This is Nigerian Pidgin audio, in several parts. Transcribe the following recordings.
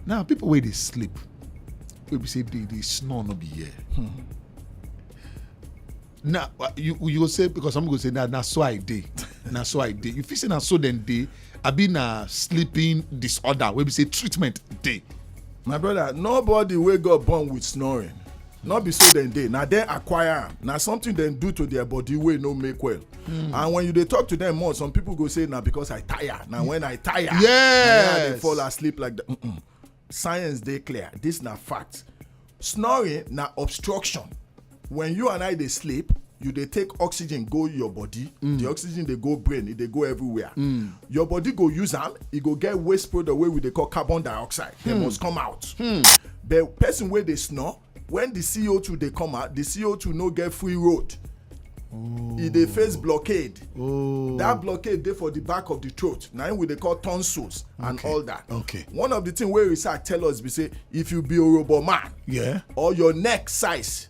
now people where they sleep wey be say they they snore no be here. Hmm. na uh, you you go say because some go say na na so i dey na so i dey you fit say na so dem dey abi na sleeping disorder wey be say treatment dey. my brother nobody wey god born with snoring no be so dem dey na dem acquire am na something dem do to their body wey no make well hmm. and when you dey talk to them more some people go say na because i tire na hmm. when i tire yes i dey fall asleep like that science dey clear this na fact snoring na obstruction when you and i dey sleep you dey take oxygen go your body mm. the oxygen dey go brain e dey go everywhere mm. your body go use am e go get waste product wey we dey call carbon dioxide dem hmm. must come out hmm. but person wey dey snore when the co2 dey come out the co2 no get free road e dey face blockade oh. that blockade dey for the back of the throat na im we dey call tonsils and all that okay one of the thing wey research tell us be say if you be orobo man yeah or your neck size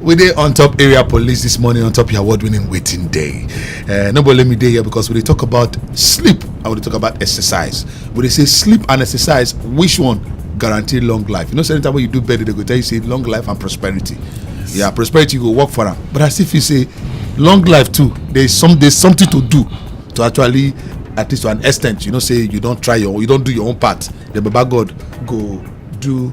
we dey on top area police this morning on top your award winning waiting day uh, no let me day here because we dey talk about sleep i want to talk about exercise we dey say sleep and exercise which one guarantee long life you know anytime when you do better they go tell you say long life and prosperity yes. yeah prosperity you go work for am but as if you say long life too there is some there's something to do to actually at least to an extent you know say you don try your you don do your own part the baba god go do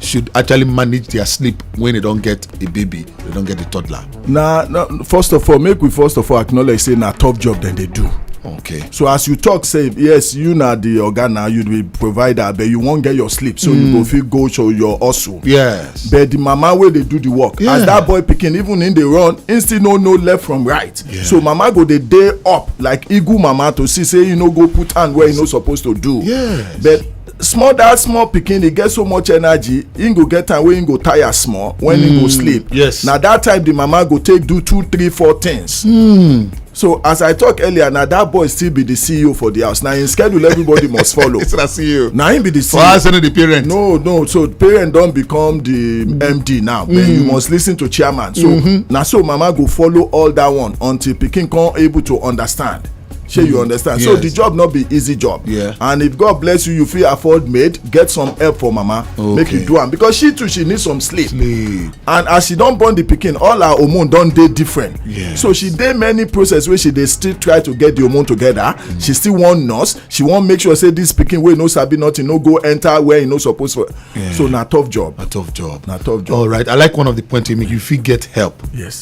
should actually manage their sleep when they don get a baby they don get a toddler. na na first of all make we first of all acknowledge say na tough job dem dey do. okay. so as you talk say yes you na the oga na you be provider but you wan get your sleep so mm. you go hmm. fit go show your hustle. yes. but the mama wey dey do the work. Yeah. as that boy pikin even him dey run him still no know left from right. Yeah. so mama go dey dey up like eagle mama to see say he no go put hand where he no suppose to do. yes. but small that small pikin e get so much energy im go get time wey im go tire small when im go hmm, sleep yes na that time the mama go take do two three four things hmm. so as i talk earlier na that boy still be the ceo for the house na im schedule everybody must follow it's na ceo na im be the ceo for house only the parent no no so parent don become the md now but you hmm. must listen to chairman so mm-hmm. na so mama go follow all that one until pikin come able to understand shey you mm. understand so the job no be easy job Yeah. and if god bless you you fit afford maid get some help for mama make you do am because she too she need some sleep Sleep. and as she don born the pikin all her hormone don dey different Yes. so she dey many process wey she dey still try to get the hormone together mm. she still wan nurse she wan make sure say this pikin wey no sabi nothing no go enter where e no suppose for so na tough job na tough job na tough job all right i like one of the point you make you fit get help yes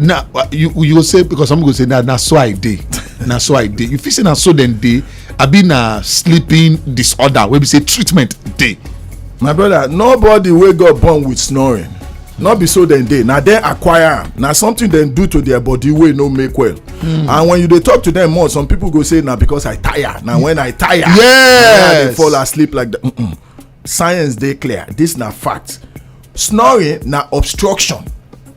na uh, you you go say because some go say na na so i dey na so i dey you fit say na so dem dey abi na sleeping disorder wey be say treatment dey. my brother nobody wey got born with snoring no be so dem dey na dem acquire am na something dem do to their body wey no make well hmm. and when you dey talk to them more some people go say na because i tire na when i tire yes i dey fall asleep like that science dey clear this na fact snoring na obstruction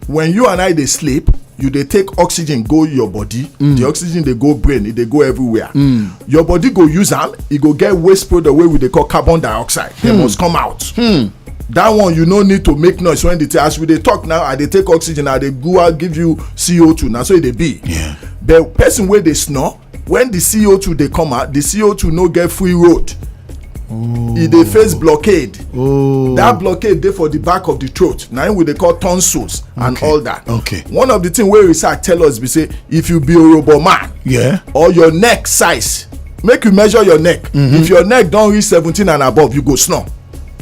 when you and i dey sleep you dey take oxygen go your body mm. the oxygen dey go brain e dey go everywhere mm. your body go use am e go get waste product wey we dey call carbon dioxide dem hmm. must come out hmm. that one you no need to make noise when the thing as we dey talk now i dey take oxygen i dey go out give you co2 na so e dey be but person wey dey snore when the co2 dey come out the co2 no get free road oh. e dey face blockade oh. that blockade dey for the back of the throat na im we dey call tonsils and all that okay one of the thing wey research tell us be say if you be orobo man yeah or your neck size make you measure your neck mm-hmm. if your neck don reach seventeen and above you go snore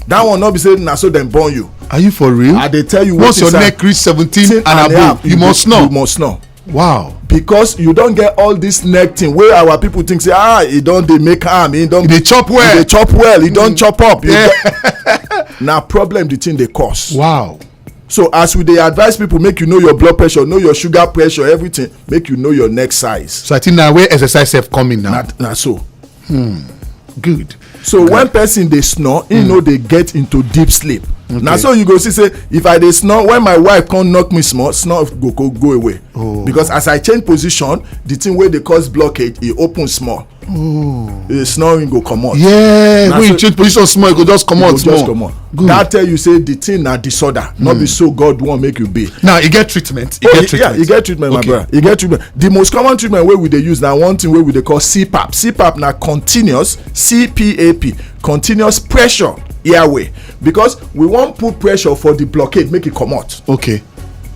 that one no be say na so dem born you are you for real i dey tell you once your neck reach seventeen and above you must snore you must snore wow because you don get all this neck thing wey our people think say ah e don dey make am e don dey chop well e dey chop well e don mm. chop up na problem the thing dey cause wow so as we dey advise people make you know your blood pressure know your sugar pressure everything make you know your neck size so i think na where exercise sef come in now na so hmm good so when person dey snore he hmm. no dey get into deep sleep na so you go see say if i dey snore when my wife come knock me small snore go go go away oh. because as i change position the thing wey dey cause blockage e open small oh. the snoring go comot yeah when you change position small e go just comot small that tell you say the thing na disorder not be hmm. so god wan make you be now e get treatment e oh, get treatment yeah e get treatment my brother e get treatment the most common treatment wey we dey use na one thing wey we dey call cpap cpap na continuous cpap continuous pressure airway because we wan put pressure for the blockade make e comot okay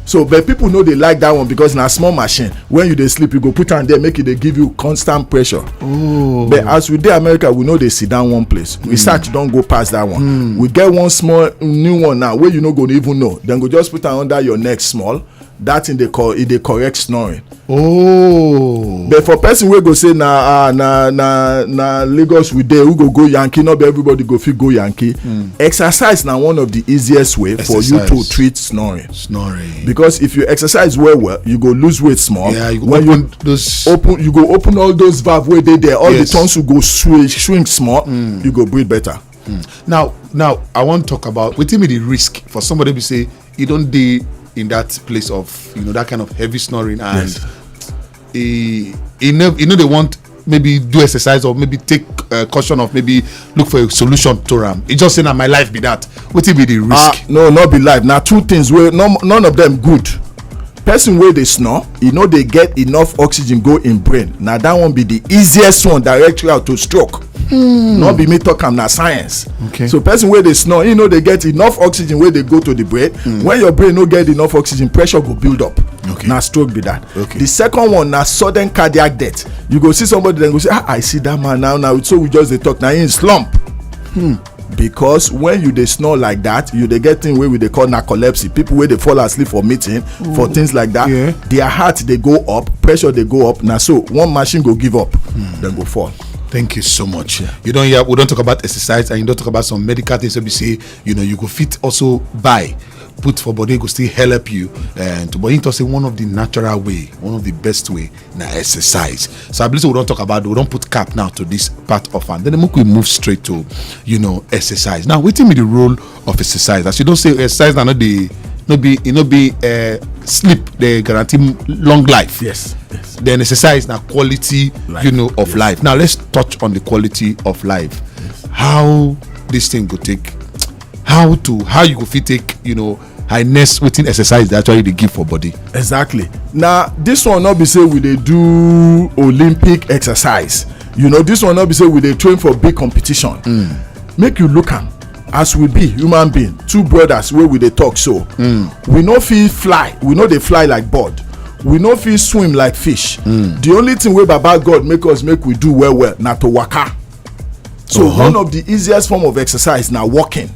so but people no dey like that one because na small machine when you dey sleep you go put am there make e dey give you constant pressure oh but as we dey america we no dey sit down one place hmm. research don go pass that one hmm. we get one small new one now wey you no go even know dem go just put am under your neck small that thing dey call e dey correct snoring. Oh. but for person wey go say na ah, na na na lagos we dey who go go yankee no be everybody go fit go yankee. Mm. exercise na one of the easiest way exercise. for you to treat snoring. snoring. because if you exercise well well you go lose weight small. Yeah, you go when open you those... open you go open all those valve wey dey there all yes. the tonsil go shrink, shrink small mm. you go breathe better. Mm. now now i wan talk about wetin be the risk for somebody be say you don't dey in that place of you know that kind of heavy snoring and yes. e e no e no dey want maybe do exercise or maybe take uh, caution of maybe look for a solution to am e just say na my life be that wetin be the risk. ah no no be life na two things wey none of them good person wey dey snore e no dey get enough oxygen go im brain na that one be the easiest one direct route to stroke hmm. no be me talk am na science okay. so person wey dey snore e no dey get enough oxygen wey dey go to the brain hmm. when your brain no get enough oxygen pressure go build up okay. na stroke be that okay. the second one na sudden cardiac death you go see somebody dem go say ah i see that man now now so we just dey talk na him slump hmm. because when you dey snore like that you dey get thing wey we dey call narcolepsy people wey dey fall asleep for meeting mm. for things like that yeah. their heart dey go up pressure dey go up na so one machine go give up mm. dem go fall. thank you so much yeah. you don hear we don talk about exercise and you don talk about some medical things wey be say you know you go fit also buy put for body go still help you and eh, but him talk say one of the natural way one of the best way na exercise so i believe say we don talk about we don put cap now to this part of am then make we move straight to you know exercise now wetin be the role of exercise as you don say exercise na no dey no be e no be uh, sleep dey guarantee m- long life yes yes then exercise na quality Life, you know of yes. life now let's touch on the quality of life how this thing go take how to how you go fit take you know highness wetin exercise dey actually dey give for body. exactly na this one no be say we dey do olympic exercise you know this one no be say we dey train for big competition mm. make you look am as we be human being two brothers wey we dey talk so mm. we no fit fly we no dey fly like bird we no fit swim like fish mm. the only thing wey baba god make us make we do well well na to waka so uh -huh. one of the easiest form of exercise na walking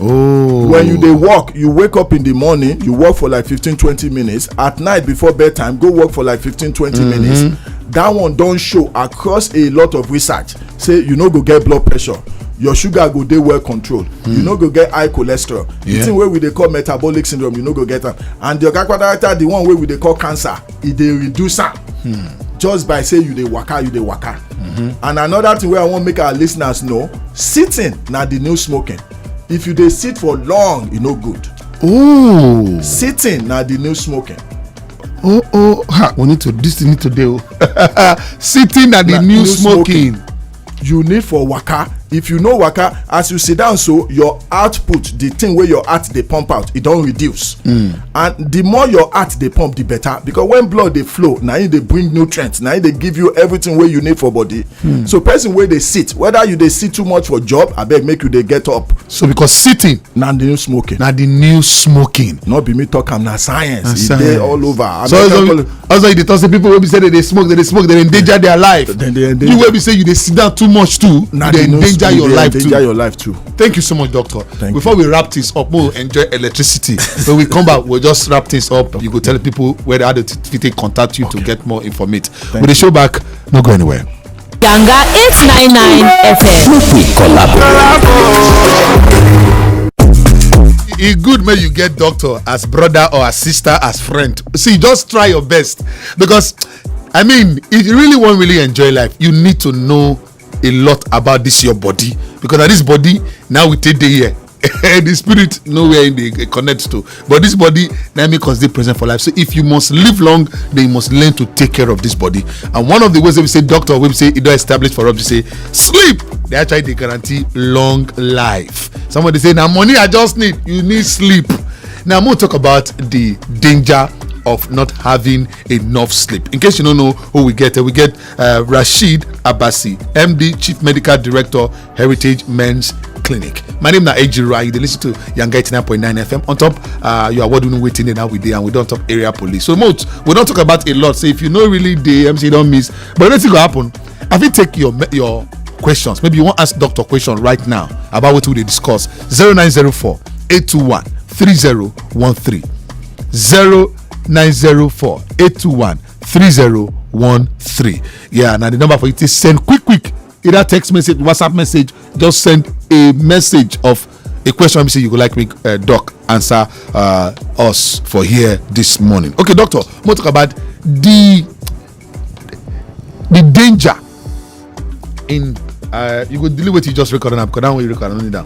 oh when you dey walk you wake up in the morning you walk for like fifteen twenty minutes at night before bedtime go walk for like fifteen twenty mm -hmm. minutes that one don show across a lot of research say you no go get blood pressure your sugar go dey well controlled mm. you hmm. no go get high cholesterol yeah. the thing wey we dey call metabolic syndrome you no go get am and the oga patata the one wey we dey call cancer e dey reduce am hmm. just by say you dey waka you dey waka mm-hmm. and another thing wey i wan make our listeners know sitting na the new smoking if you dey sit for long e no good Ooh. sitting na the new smoking oh oh ha we need to this need to dey o sitting na the new smoking you need for waka if you no waka as you sit down so your output the thing wey your heart dey pump out e don reduce hmm. and the more your heart dey pump the better because when blood dey flow na im dey bring nutrients na im dey give you everything wey you need for body hmm. so person wey dey sit whether you dey sit too much for job abeg make you dey get up so because sitting na the new smoking na the new smoking no be me talk am na science e dey all over so also you dey talk say people wey be say dem dey smoke dem dey smoke dem dey endanger their life you wey be say you dey sit down too much too you dey endanger your life too your life too thank you so much doctor before we wrap things up we enjoy electricity when we come back we just wrap things up you go tell people where how to fit contact you to get more information we dey show back no go anywhere. Yanga 899 FM. Make we collaborate. e good make you get doctor as brother or as sister as friend see just try your best because i mean if you really wan really enjoy life you need to know a lot about this your body because na this body now we take dey here the spirit know where im dey eh, connect to but this body na make us dey present for life so if you must live long then you must learn to take care of this body and one of the ways wey be say doctor wey be say e don establish for us be say sleep dey actually dey guarantee long life somebody say na money i just need you need sleep now i'm gonna talk about the danger of not having enough sleep. In case you don't know who we get, we get uh, Rashid Abasi, MD, Chief Medical Director, Heritage Men's Clinic. My name na Ejira. You dey listen to Yanga 89.9 FM. On top, uh, you are what doing waiting now with day and we don't talk area police. So much we don't talk about a lot. So if you know really the MC don't miss, but anything go happen. I fit take your me- your questions. Maybe you want ask doctor question right now about what we dey discuss. 0904 821 3013. 0904 821 3013. Yeah, now the number for you to send quick quick either text message whatsapp message just send a message of a question we say you go like make uh, doc answer uh, us for here this morning okay doctor mo talk about the the danger in uh, you go delete what you just record now because that one you record no need am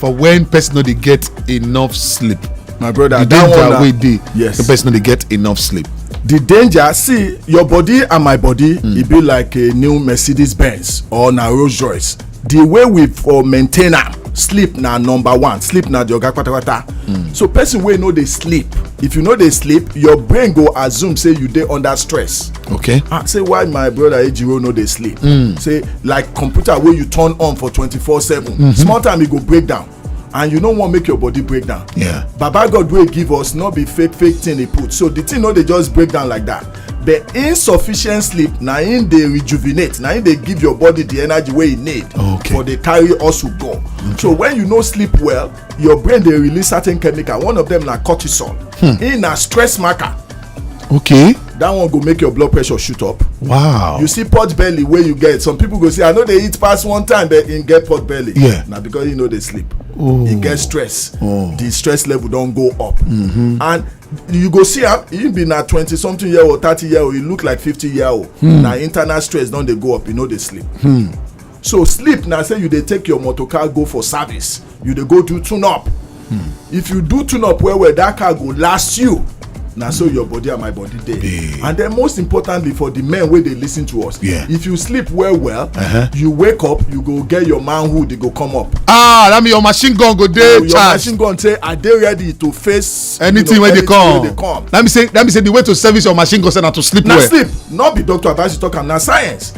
for when person no dey get enough sleep my brother the that one danger na wey dey yes the person no dey get enough sleep the danger see your body and my body mm. e be like a new mercedes benz or na rolls royce the way we for maintain am sleep na number one sleep na the oga patapata mm. so person wey no dey sleep if you no dey sleep your brain go assume say you dey under stress okay ah. say why my brother ejiro no dey sleep hmm. say like computer wey you turn on for 24 7 mm-hmm. small time e go break down and you no wan make your body break down yeah baba god wey give us no be fake fake thing he put so the thing no dey just break down like that but insufficient sleep na im dey rejuvenate na im dey give your body the energy wey e need okay. for dey carry hustle go okay. so when you no sleep well your brain dey release certain chemical one of them na cortisol hmm. e na stress marker okay that one go make your blood pressure shoot up wow you see pot belly wey you get some people go say i no dey eat pass one time but im get pot belly yeah na because you no dey sleep oh. e get stress oh. the stress level don go up mm-hmm. and you go see am he be na twenty something year old thirty year old he look like fifty year old hmm. na internal stress don dey go up he no dey sleep hmm. so sleep na say you dey take your motor car go for service you dey go do tune up hmm. if you do tune up well well that car go last you na so your body and my body dey and then most importantly for the men wey dey listen to us Yeah. if you sleep well well uh-huh. you wake up you go get your manhood e go come up ah that mean your machine gun go dey charged your machine gun say i dey ready to face anything wey dey come that mean say that mean say the way to service your machine gun say na to sleep well na sleep not be doctor advice you talk am na science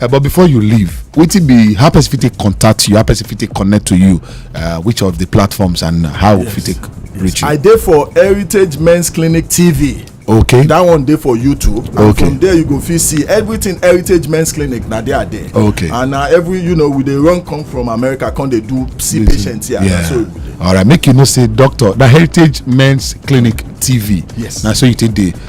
Uh, but before you leave, wetin be how person fit take contact you, how person fit take connect to you, uh, which of the platforms and how yes. fit take yes. reach you? I dey for Heritage Men's Clinic TV. okay that one dey for youtube and okay. from there you go fit see everything heritage men's clinic na there there okay and na every you know we dey run come from america come dey do see patients here yeah. so all right make you know say doctor na heritage men's clinic tv yes na so you take dey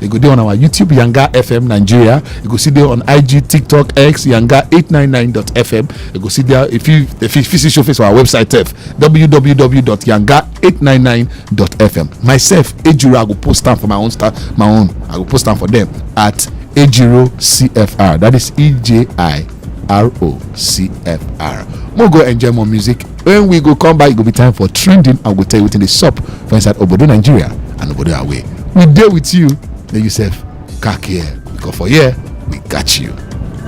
e go dey on our youtube yanga fm nigeria e go still dey on ig tiktok x yanga 899.fm e go still dey if you if you fit see show face for our website sef www.yanga899.fm myself ejiro i go post am for my own star my own i go post am for dem at ejiro cfr that is e j i r o c f r mo go enjoy more music when we go come back e go be time for trending i go tell you wetin dey sup for inside obodo nigeria and obodo away we dey with you make you sef kak here because for here we got you.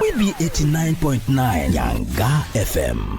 we be 89.9 yanga fm.